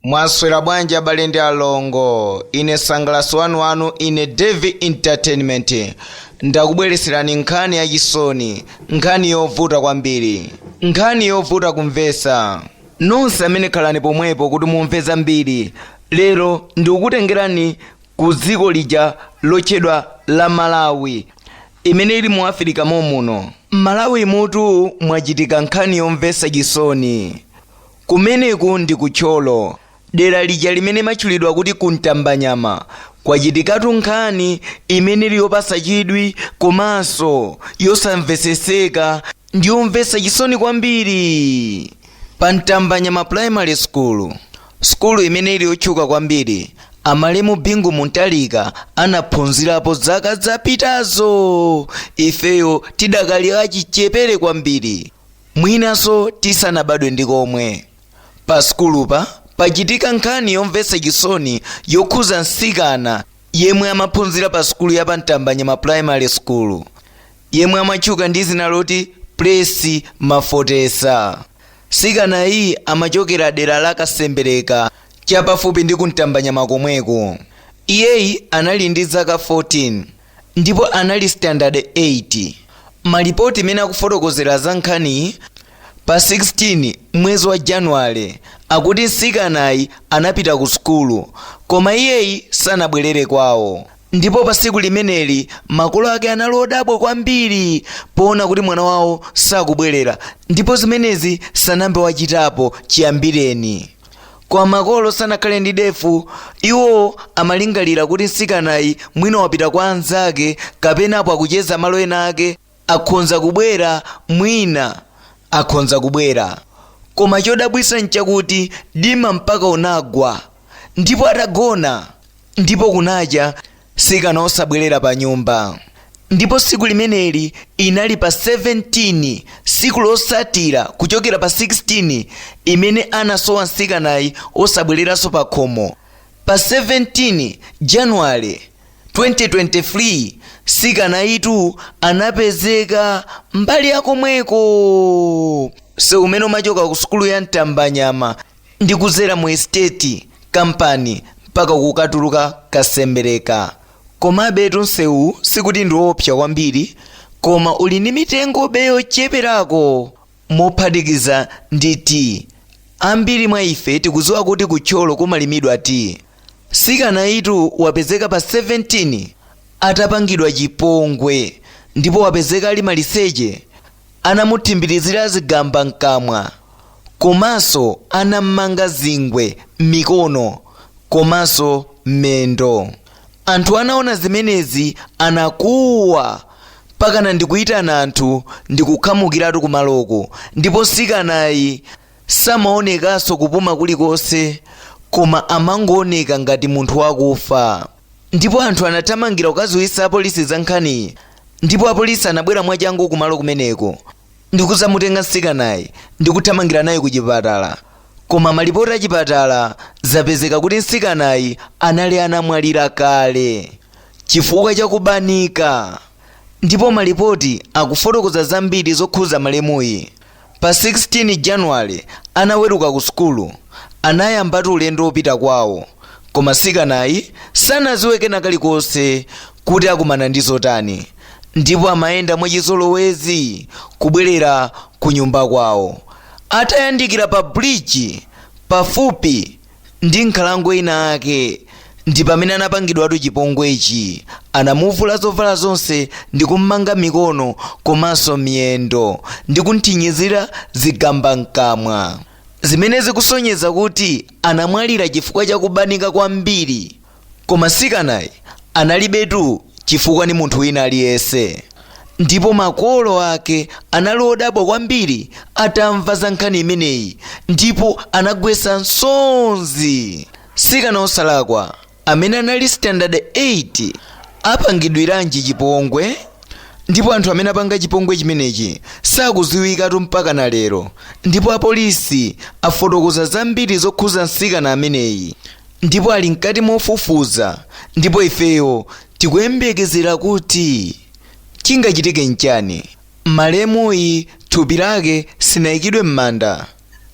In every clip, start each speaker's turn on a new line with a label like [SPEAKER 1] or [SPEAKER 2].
[SPEAKER 1] mwaswera bwanji abale ndi alongo ine msangalatsi wanu wanu ine devi entertainment ndakubwereserani nkhani yachisoni nkhani yovuta kwambiri nkhani yovuta kumvesa nonse amene khalani pomwepo kuti mumve zambiri lero ndikukutengerani ku dziko lija lotchedwa la malawi imene ili mu africa momuno malawi mutu mwachitika nkhani yomvesa chisoni Kumeneku ndi ku Thyolo, dera lija limene matchulidwa kuti ku Ntambanyama, kwachitikatu nkhani imene ili yopatsa chidwi komanso yosamvetsetseka ndi yomvetsa chisoni kwambiri. Pa Ntambanyama Primary School, sukulu imene ili yotchuka kwambiri, a malemu Bingu Mutharika anaphunzirapo zaka zapitazo ifeyo tidakali achichepere kwambiri. Mwinanso tisanabadwe ndi komwe, pa sukulupa pachitika nkhani yomvetsa chisoni yokhuza mtsikana yemwe amaphunzira pa sukulu ya pa Ntambanyama Primary School, yemwe amatchuka ndi dzina loti Plessy Mafotesa. Mtsikanayi amachokera dera la Kasembereka chapafupi ndi ku Ntambanyama komweko. Iyeyi anali ndi zaka 14 ndipo anali standard 8. Malipoti imene akufotokozera za nkhaniyi pa 16 mwezi wa Januwale akuti msikanayi anapita ku sukulu koma iyeyi sanabwelere kwawo ndipo pa siku limeneli makolo ake anali odabwa kwambiri poona kuti mwana wawo sakubwelera ndipo zimenezi sanambe wachitapo chiyambireni. Koma makolo sanakhale ndi defu, iwo amalingalira kuti mtsikanayi mwina wapita kwa anzake kapenapo akucheza malo ena ake, akhonza kubwera, mwina akhonza kubwera. Koma chodabwitsa nchakuti dima mpaka unagwa, ndipo atagona. Ndipo kunacha, sikana osabwerera panyumba. Ndipo siku limeneli inali pa 17 siku losatira kuchokera pa 16 imene anasowa nsikanayi osabwereranso pakhomo. Pa 17 Januwale 2023 sikanayitu anapezeka mbali yakomweko. Msewu umene umachoka ku sukulu ya Ntambanyama ndi kuzera mu esiteti, kampani, mpaka kukatuluka Kasembereka. Komabetu nsewuwu sikuti ndi woopsa kwambiri, koma uli ndi mitengobe yocheperako mophatikiza ndi tiyi. Ambiri mwa ife tikudziwa kuti ku Thyolo kumalimidwa tiyi. Mtsikanayitu wapezeka pa 17 atapangidwa chipongwe ndipo wapezeka ali maliseche anamuthimbirizira zigamba m'kamwa. komanso anammanga zingwe m'mikono komanso m'mendo anthu anaona zimenezi anakuwa mpakana ndikuyitana anthu ndikukhamukiratu kumaloko ndipo mtsikanayi samaonekanso kupuma kulikonse koma amangooneka ngati munthu wakufa ndipo anthu anathamangira kukadziwitsa apolisi za nkhaniyi ndipo apolisi anabwera mwachangu kumalo kumeneko ndikudzamutenga mtsikanayi ndikuthamangira naye kuchipatala koma malipoti achipatala zapezeka kuti mtsikanayi anali anamwalira kale chifukwa chakubanika ndipo malipoti akufotokoza zambiri zokhuza malemuyi pa 16 januwale anaweruka ku sukulu anayambatu ulendo wopita kwawo koma mtsikanayi sanaziwe kena kalikonse kuti akumana ndi zotani ndipo amayenda mwachizolowezi kubwerera kunyumba kwawo. Atayandikira pa bridge pafupi ndi nkhalango inayake ndi pamene anapangidwatu chipongwechi. Anamuvula zovala zonse ndi kummanga mikono komanso miyendo ndi kumthinyizira zigamba mkamwa, zimene zikusonyeza kuti anamwalira chifukwa cha kubanika kwambiri. Koma mtsikanayi analibetu chifukwa ndi munthu wina aliyense. Ndipo makolo ake anali odabwa kwambiri atamva za nkhani imeneyi ndipo anagwetsa msozi. Mtsikana wosalakwa amene anali standard 8 apangidwiranji chipongwe? Ndipo anthu amene apanga chipongwe chimenechi sakudziwikatu mpakana lero. Ndipo apolisi afotokoza zambiri zokhudza mtsikana ameneyi. Ndipo ali mkati mofufuza, ndipo ifeyo tikuyembekezera kuti chingachitike nchani. Malemuyi thupi lake sinaikidwe m'manda.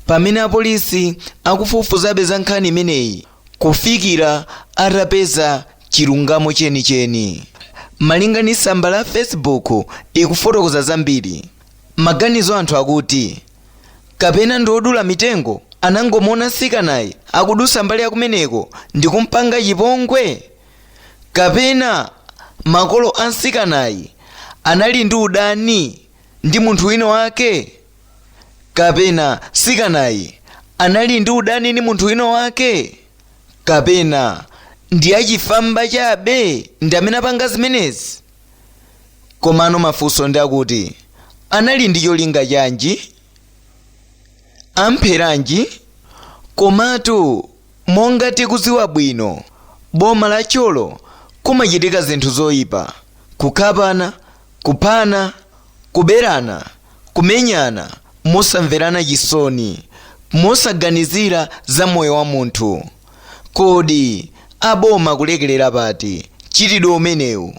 [SPEAKER 1] Pamene apolisi akufufuzabe za nkhani imeneyi kufikira atapeza chilungamo chenicheni. Malinga ndi tsamba la Facebook ikufotokoza zambiri. maganizo anthu akuti kapena ndi odula mitengo anangomuona mtsikanayi akudusa mbali yakumeneko ndi kumpanga chipongwe kapena makolo a mtsikanayi anali ndi udani ndi munthu wina wake kapena mtsikanayi anali ndi udani ndi munthu wina wake kapena ndi achifwamba chabe ndi amene apanga zimenezi komano mafunso ndi akuti anali ndi cholinga chanji ampheranji komatu monga tikuziwa bwino boma la Thyolo kumachitika zinthu zoyipa kukhapana kuphana kuberana kumenyana mosamverana chisoni mosaganizira za moyo wa munthu Kodi aboma akulekelera pati mchitidwe umenewu?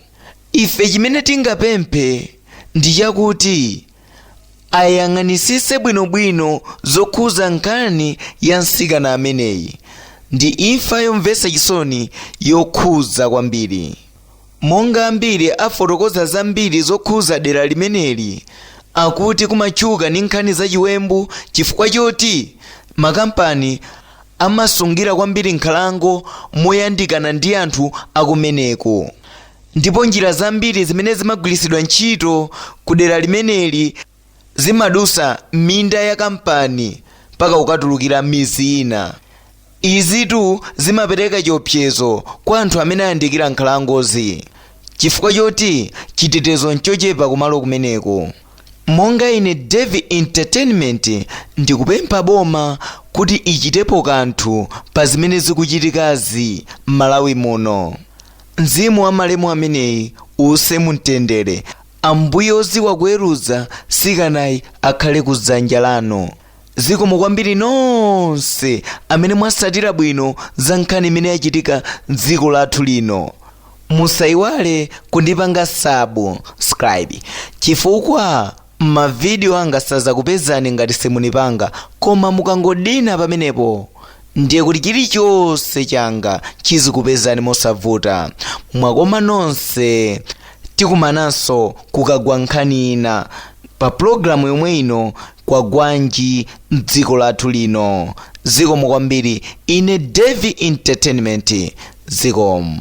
[SPEAKER 1] Ife chimene tingapemphe ndi chakuti ayang'anisise bwino bwino zokhuza nkhani ya msikana ameneyi. Ndi imfa yomvesa chisoni yokhuza kwambiri. Monga ambiri afotokoza zambiri zokhuza dera limeneli akuti kumatchuka ndi nkhani za chiwembu chifukwa choti makampani amasungira kwambiri nkhalango moyandikana ndi anthu akumeneko ndipo njira zambiri zimene zimagwiritsidwa ntchito ku dera limeneli zimadusa minda ya kampani mpaka kukatulukira midzi ina izitu zimapereka chiopsezo kwa anthu amene ayandikira nkhalangozi chifukwa choti chitetezo nchochepa kumalo kumeneko Monga ine Davie Entertainment ndikupempha boma kuti ichitepo kanthu pa zimene zikuchitikazi m'Malawi muno. Mzimu wa malemu ameneyi uuse mumtendere. Ambuye oziwa kuweruza mtsikanayi akhale ku dzanja lanu. zikomo kwambiri nonse amene mwasatira bwino za nkhani imene yachitika mdziko lathu lino musayiwale kundipanga subscribe chifukwa mavidiyo anga sazakupezani ngati simunipanga koma mukangodina pamenepo ndiye kuti chilichonse changa chizikupezani mosavuta mwakoma nonse tikumananso kukagwa nkhani ina pa pulogalamu yomwe ino Kwagwanji mdziko lathu lino. Zikomo kwambiri ine Davie Entertainment zikomo.